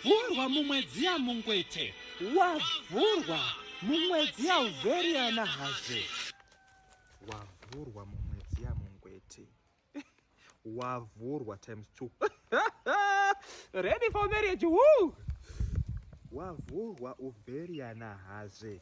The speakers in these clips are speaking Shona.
vhurwa mumwedzi yamungwete wavhurwa mumwedzi yauvheriyana hazve wavhurwa mumwedzi yamungwete wavhurwa times two ready for marriage woo wavhurwa uvheriyana hazve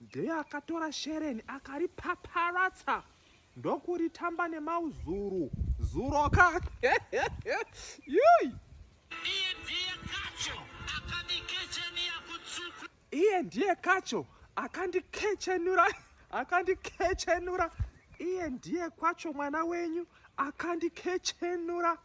Dheya akatora shereni akaripaparatsa ndokuritamba nemauzuru zuro ka iye ndiye kacho akandikechenura akandikechenura iye ndiye kwacho mwana wenyu akandikechenura